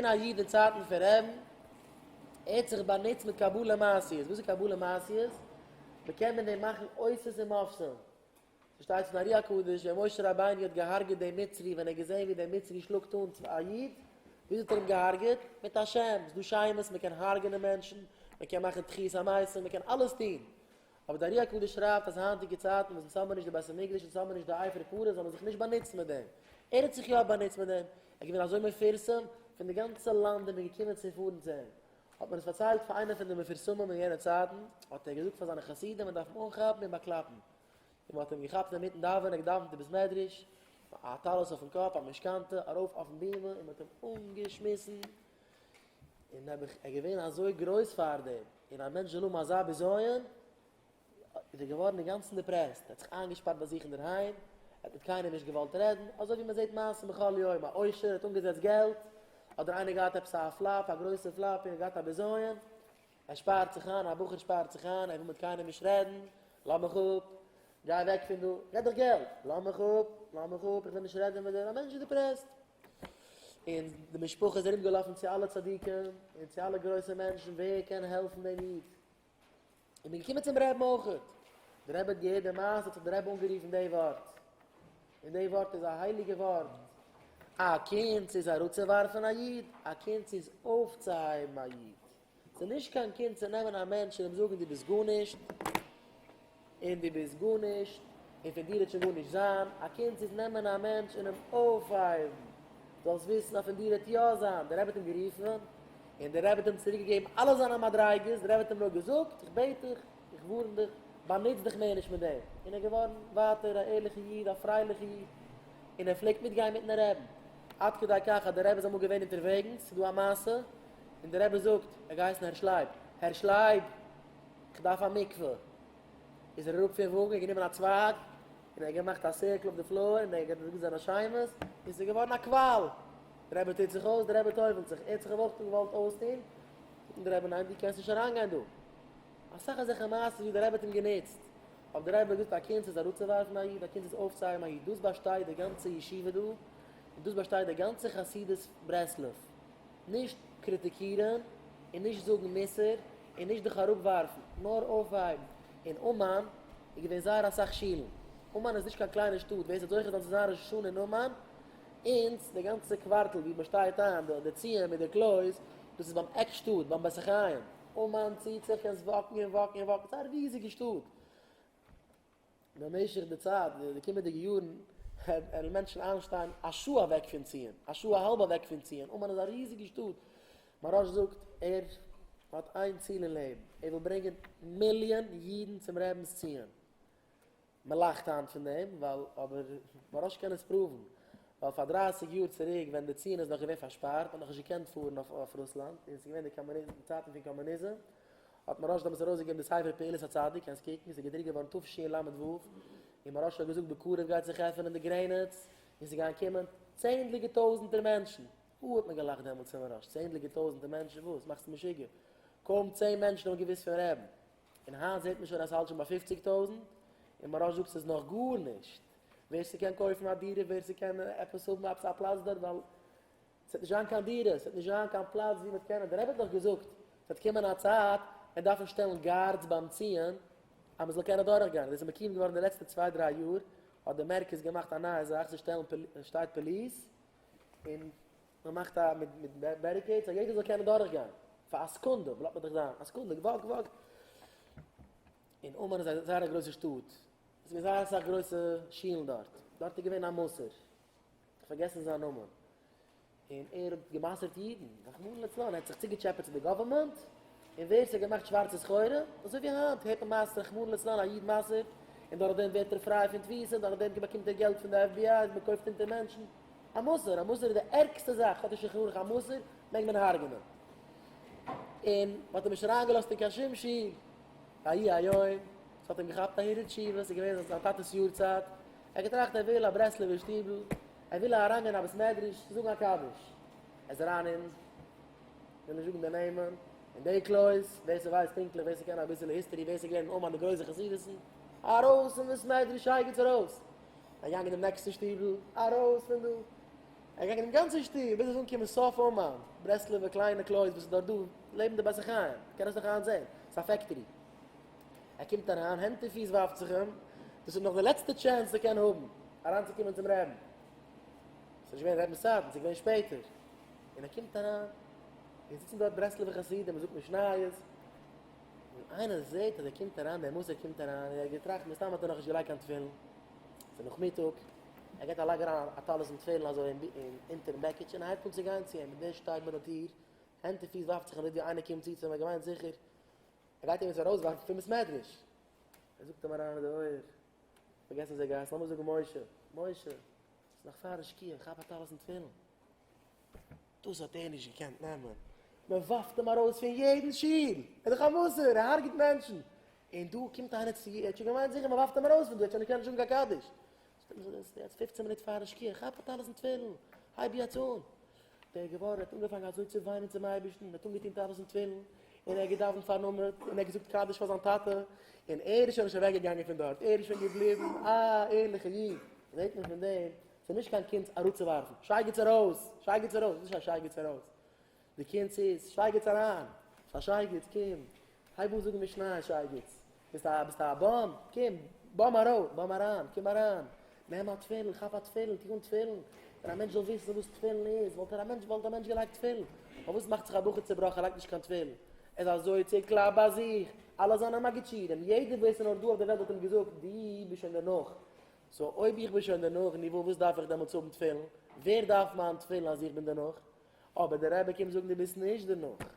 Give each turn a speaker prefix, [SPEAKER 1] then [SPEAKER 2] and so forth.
[SPEAKER 1] געווען א איד אין צייטן פון רעבן, ער האט זיך באנוצט מיט קבלה מעשיות, וואס איז קבלה מעשיות? מ'קען מיט דעם מאכן אותות און מופתים, שטייט אין ארי הקדוש ווען משה רבינו האט געהארגעט דעם מצרי ווען ער האט געזען ווי דער מצרי שלאגט אן צו א איד, וויאזוי האט ער אים געהארגעט? מיט א שם, ס'איז דא שמות, מ'קען הרג'נען מענטשן, מ'קען מאכן תחיית המתים, מ'קען אלעס טון. אבער דער ארי הקדוש שרייבט אז היינטיגע צייטן וואס אונז האבן נישט די בית המקדש אונז האבן נישט די עפר פרות זאל מען זיך נישט באנוצן מיט דעם. ער האט זיך יא באנוצט מיט דעם, ער איז געווען אזוי מפורסם, פון די גאנצע לאנד איז מען געקומען צו פארן צו אים. האט מען עס פארציילט פאר איינער פון די מפורסמים אין יענע צייטן, האט ער געזאגט פאר זיינע חסידים מען דארף אים אנכאפן און באקלאפן. און מען האט אים געכאפט אינמיטן דאווענען, געדאוונט אין בית מדרש, א טלית אויפן קאפ, א משכנתא, ארויף אויפן בימה און מען האט אים אנגעשמיסן, און ער איז געווען אזוי גרויס פאר דעם, און א מענטש זאל האבן אזא בזיון, איז ער געווארן אינגאנצן דיפרעסט, ער האט זיך איינגעשפארט ביי זיך אינדערהיים, ער האט מיט קיינעם נישט געוואלט רעדן, אזוי ווי מען זעט מעשים בכל יום, א עושר האט אנגעזעצט געלט, אדער איינער געהאט עפעס א פלאפ, א גרויסע פלאפ, און ער האט געהאט א בזיון, ער שפארט זיך איין, א בחור שפארט זיך איין, ער וויל מיט קיינעם נישט רעדן, לאמיך אפ, גיי אוועק פון דא, רעד דאך געלט, לאמיך אפ, לאמיך אפ, איך וויל נישט רעדן מיט דיר, א מענטש איז דיפרעסט. און די משפחה איז ארום געלאפן צו אלע צדיקים, און צו אלע גרויסע מענטשן, ווער קען העלפן דעם איד? און מ'איז געקומען צום רעבן אויכעט, די רעבע האט געהערט די מעשה, האט זיך די רעבע אנגערופן די ווארט, און די ווארט איז א הייליגע ווארט, א קונץ איז אראפצו ווארפן א איד, א קונץ איז אויפצוהייבן א איד. ס'איז נישט קיין קינד צו נעמען א מענטש און אים זאגן דו ביסט גארנישט, און דו ביסט גארנישט, און פון דיר וועט שוין גארנישט זיין. א קינד איז נעמען א מענטש און אים אויפהייבן, זאלסט וויסן אז פון דיר וועט יא זיין. דער רבי האט אים גערופן, און דער רבי האט אים צוריק געגעבן אלע זיינע מדריגות, דער רבי האט אים נאר געזאגט, איך בעט דיך, איך ווארן דיך, באנוץ דיך מער נישט מיט דעם. און ער איז געווארן ווייטער א ערליכע איד, א פרייליכע איד, און ער פלעגט מיטגיין מיטן רבי'ן. עד כדי כך אז דער רבי איז אמאל געווען אונטערוועגנס, ס'איז דא א מעשה, און דער רבי זאגט, ער האט געהייסן הערש לייב, הערש לייב! כ'דארף א מקווה! איז ער אראפ פון וואגן, גענומען א צווייג, און ער האט געמאכט א סירקל אויף די פלאהר, און ער האט געדרוקט זיינע שיימעס, און ס'איז געווארן א קוואל! דער רבי טוט זיך אויס, דער רבי טובל'ט זיך, ער האט זיך אויך געוואלט אויסטון, זאגט אים דער רבי, ניין דו קענסט נישט אריינגיין דא! אסאך אזעלכע מעשות ווי דער רבי האט אים גענוצט, אויב דער רבי האט געזאגט א קונץ איז אראפצואווארפן א איד, א קונץ איז אויפצוהייבן א איד, דאס באשטייט די גאנצע ישיבה דא, און דאס באשטייט די גאנצע חסידות ברסלב. נישט קריטיקירן און נישט זאגן מוסר און נישט דיך אראפווארפן, נאר אויפהייבן. אין אומאן איז געווען זייער אסאך שולן. אומאן איז נישט קיין קליינע שטאט, ווער ס'האט זוכה זיין צו זיין ראש השנה אין אומאן, אונז די גאנצע קווארטל ווי מ'שטייט איין, די ציון מיט די קלויז, דאס איז ביים עק שטאט, ביים בית החיים. אומאן ציט זיך קיין זוואקן און וואקן און וואקן, ס'איז א ריזיגע שטאט. במשך די צייט, די קומענדיגע יארן, העלן מענטשן איינשטיין א שעה אוועק פון ציון, א שעה א האלב אוועק פון ציון, אומאן איז א ריזיגע שטאט, מהרש א זאגט, ער האט איין ציל אין לעבן, ער וויל ברענגען מיליאן אידן צום רבינ'ס ציון, מען לאכט היינט פון דעם, ווייל, אבער מהרש א קען עס פראוון, ווייל פאר דרייסיג יאר צוריק ווען די ציון איז נאך געווען פארשפארט, מען האט נאך נישט געקענט פארן אויף רוסלאנד, און עס איז געווען די קאמוניזם, צייטן פון קאמוניזם, האט מוהרא ש דעמאלטס ארויסגעגעבן די ספר פעולת הצדיק, קענסט קוקן, ס'איז געדרוקט געווארן תשי ל ו, און מוהרא ש האט געזאגט בקרוב גייט זיך עפענען די גרעניץ, און ס'גייען קומען צענדליגע טויזנטער מענטשן, אוי האט מען געלאכט דעמאלטס פון מוהרא ש, צענדליגע טויזנטער מענטשן וואס, מאכסט משוגע, קוים צען מענטשן האבן געוואוסט פון רעבן, און היינט זעט מען שוין אז ס'האלט שוין ביי פופציג טויזנט, און מוהרא ש זאגט ס'איז נאך גארנישט, ווער ס'קען קויפן א דירה, ווער ס'קען עפעס האבן עפעס א פלאץ דארט, ווייל עס וועט נישט זיין קיין דירות, עס וועט נישט זיין קיין פלאץ וואו מ'וועט קענען, דער רבי האט דאך געזאגט עס וועט קומען א צייט מ'וועט דארפן שטעלן גארדס ביים ציון אז מ'זאל קענען דורך גיין, דאס איז מקים געווארן די לעצטע צוויי דריי יאר האט די מרכז געמאכט א נייע זאך, זיי שטעלן עס שטייט פאליס און מ'מאכט א מיט מיט בעריקעידס אז יעדער זאל קענען דורך גיין פאר א סעקונדע, בלאט מען דיך זיין א סעקונדע וואק וואק, און אומאן איז א זייער א גרויסע שטאט, עס איז געווען זייער אסאך גרויסע שולן דארט, דארט איז געווען א מסור, כ'האב פארגעסן זיין נאמען, און ער האט גע'מסר'ט אידן, רחמנא לצלן, ער האט זיך צוגעטשעפעט צו די גאווערמענט, און ווער ס'האט געמאכט שווארצע סחורה, אזוי ווי היינט, הערט מען מייסטענס רחמנא לצלן א איד מסר'ט, און דורך דעם ווערט ער פריי פון תפיסה, און דורך דעם באקומט ער געלט פון די fbi, און מ'קויפט אונטער מענטשן. א מסור! א מסור איז די ערגסטע זאך, כאטש איך הארך א מסור, מעג מען הרג'נען. און מ'האט אים נישט אריינגעלאזט אין קיין שום שול, ויהי היום, ס'האט אים געכאפט א הירא תשובה, ס'איז געווען זיין טאטע'ס יארצייט, ער געטראכט ער וויל א ברסלב'ער שטיבל, ער וויל אריינגיין אין א בית מדרש צו זאגן א קדיש. ער איז אריין אין, כ'וועל נישט זאגן די נעמען, אין די קלויז, ווער ס'ווייסט פונקטליך, ווער ס'קען אביסעלע היסטערי, ווער ס'איז געווען אין אומאן די גרויסע חסידות'ן, ארויס פון בית מדרש שייגעץ ארויס! ער איז געגאנגען אין דעם נעקסטן שטיבל, ארויס פון דא! ער איז געגאנגען דעם גאנצן שטוב ביז ער איז אנגעקומען סוף אומאן, ברסלב'ע קליינע קלויז וואס איז דארט דא לעבן די בתי חיים, מ'קען עס נאך היינט זען, ס'איז א פעקטארי. ער קומט אריין הענט און פיס ווארפט זיך אים, דאס איז נאך די לעצטע טשענס וואס ער קען האבן אריינצוקומען צום רעבן, ס'איז נישט געווען רעבן סייט, ס'איז געווען שפעטער, און ער קומט אריין, און זיצן דארט ברסלב'ע חסידים, מ'זאגט משניות, און איינער זעט אז ער קומט אריין, דער מוסר קומט אריין, און ער האט געטראכט מסתם האט ער נאכנישט געלייגט קיין תפילין, ס'איז נאכמיטאג, ער געט א לייג אריין א טלית און תפילין אזוי אונטערן בעקיטש און הייבט אן צו גיין צו אים, און דער שטייט ביי די טיר, הענט און פיס ווארפט זיך אים די טיר, איינער קומט צו צו אים, ער האט געמיינט זיכער ער גייט אים יעצט ארויסווארפן פון בית מדרש! ער זאגט אים אריין אין די אויער, פארגעס נישט די גאס, לאמיר זאגן משה, משה, ס'איז נאך פארן שקיעה, כאפ א טלית און תפילין. דאס האט ער נישט געקענט נעמען, מען ווארפט אים ארויס פון יעדן שול, ער איז דאך א מסור, ער הרג'ט מענטשן, און דא קומט איינער צו, ער האט שוין געמיינט זיכער מען ווארפט אים ארויס פון דא, ער האט שוין נישט געקענט זאגן קיין קדיש, שטעל זיך דאס יעצט פופצען מינוט פארן שקיעה, כאפ אט אלעס אין תפילין, הייב יעצט אן. דער געווארער האט אנגעפאנגען אזוי צו וויינען צום אייבערשטן, און האט אנגעטונקט אלעס אין תפילין, און ער האט געדאוונט פארן עמוד, און ער האט געזאגט קדיש פאר זיין טאטע, און ער איז שוין נישט אוועק געגאנגען פון דארט, ער איז שוין געבליבן א ערליכע איד, זעט מען פון דעם, ס'איז נישט קיין קונץ אראפצואווארפן, שייגעץ ארויס! שייגעץ ארויס! נישט א שייגעץ ארויס! די קינד ס'איז שייגעץ אריין! ס'איז א שייגעץ! קום! הייב אן זאגן משניות שייגעץ! ביסט א ביסט א באם! קום! באם ארויף! באם אריין! קום אריין! נעם א תפילין! כאפ א תפילין! טו אן תפילין! ווען א מענטש זאל וויסן וואס תפילין איז וואלט ער א מענטש וואלט א מענטש געלייגט תפילין! פארוואס מאכט זיך א בחור צעבראכן ער לייגט נישט קיין תפילין? ער איז אזוי צעקלאפט ביי זיך! אלע זיינע מגיד שיעורים יעדער ווער ס'איז נאר דא אויף די וועלט האט אים געזאגט דו ביסט שוין דערנאך! סאו אויב איך בין שוין דערנאך ניווא וואס דארף איך דעמאלטס האבן תפילין? ווער דארף מיין תפילין אז איך בין דערנאך? אבער דער רבי קומט זאגן דו ביסט נישט דערנאך.